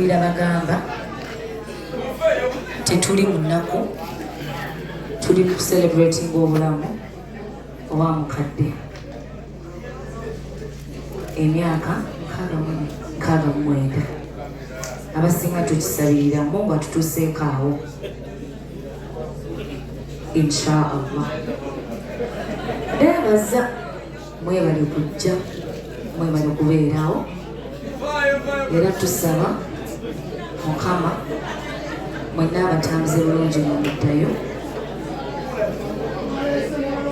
era bagamba tetuli mu nnaku tuli ku celebrating obulamu owa mukadde emyaka nkaaga mu mwenda abasinga tukisabirira mu nga tutuseeko awo insha allah beebaza mwebale kujja mwebale kubeerawo era tusaba mukama mwenna abatambuze bulungi mumuddayo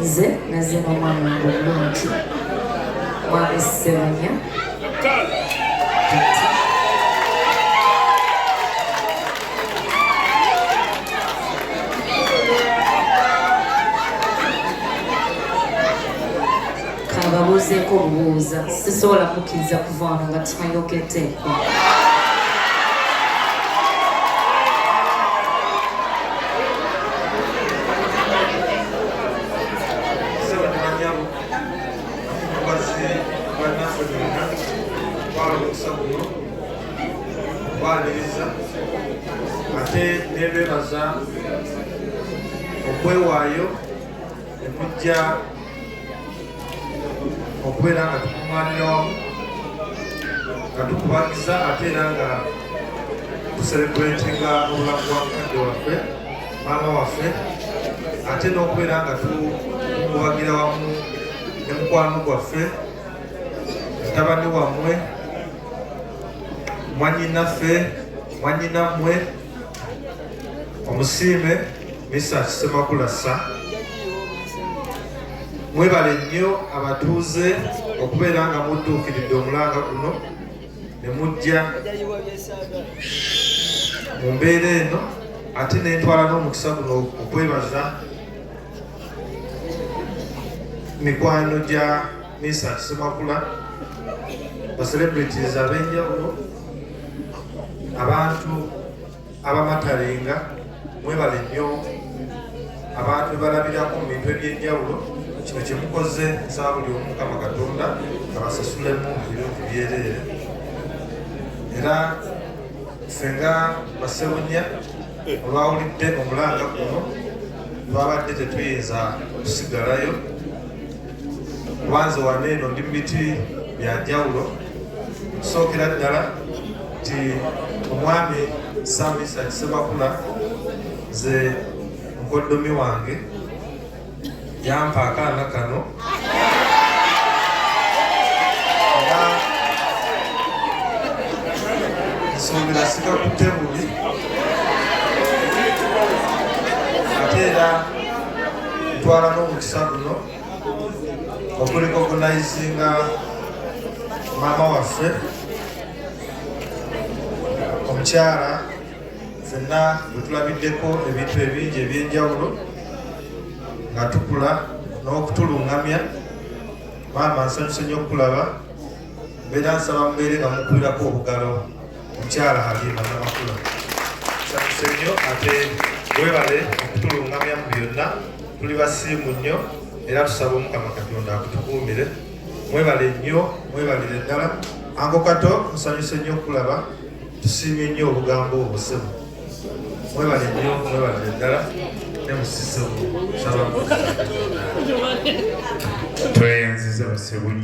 nze nazemu omwana wange omulungi mwami sebanya babuuzeeko obubuuza sisobola kukkiriza kuva wano nga tumayokeddeeko okwaniriza ate nebebaza okwewaayo nemujja okubeera nga tukuŋŋaanira wamu nga tukubagiza ate era nga tuserebuletinga obulamu bwa mukadde waffe maama waffe ate n'okubeera nga tukubagira wamu ne mukwano gwaffe mutabani wammwe mwannyinaffe mwannyinammwe omusiime misa kisemakulasa mwebale nnyo abatuuze okubeera nga mudduukiridde omulanga guno ne mujja mu mbeera eno ate nentwala n'omukisa guno okwebaza mikwano gya Misa Semakula, ba celebrities ab'enjawulo, abantu abamatarenga mwebale nnyo abantu bebalabirako mu bintu eby'enjawulo kino kyemukoze nsaba buli omu mukama katonda abasasulemu ebintu byereere era ffe nga basewunya olwawulidde omulanga guno twabadde tetuyinza kusigalayo kubanze wano eno ndi mumiti byanjawulo okusookera ddala nti omwami samisa kisemakula ze mukoddomi wange yampa akaana kano nsuubira sikakutte bubi ate era twala n'omukisa guno okuliko okunayizinga maama waffe omukyala fenna wetulabiddeko ebintu ebingi ebyenjawulo nga tukula n'okutulungamya maama nsanyuse nyo okukulaba mbeera nsaba mubeere nga mukubirako obugalo Mukyala Halima Namakula tusanyuse nnyo ate webale okutulungamya mu byonna tuli basiimu nnyo era tusaba omukama katonda akutukuumire mwebale nnyo mwebalire ddala ango kato nsanyuse nnyo okulaba tusiimye nnyo obugambo obusemu mwebale nnyo mwebalire ddala nemusisemu saba tweyanziza basebunyo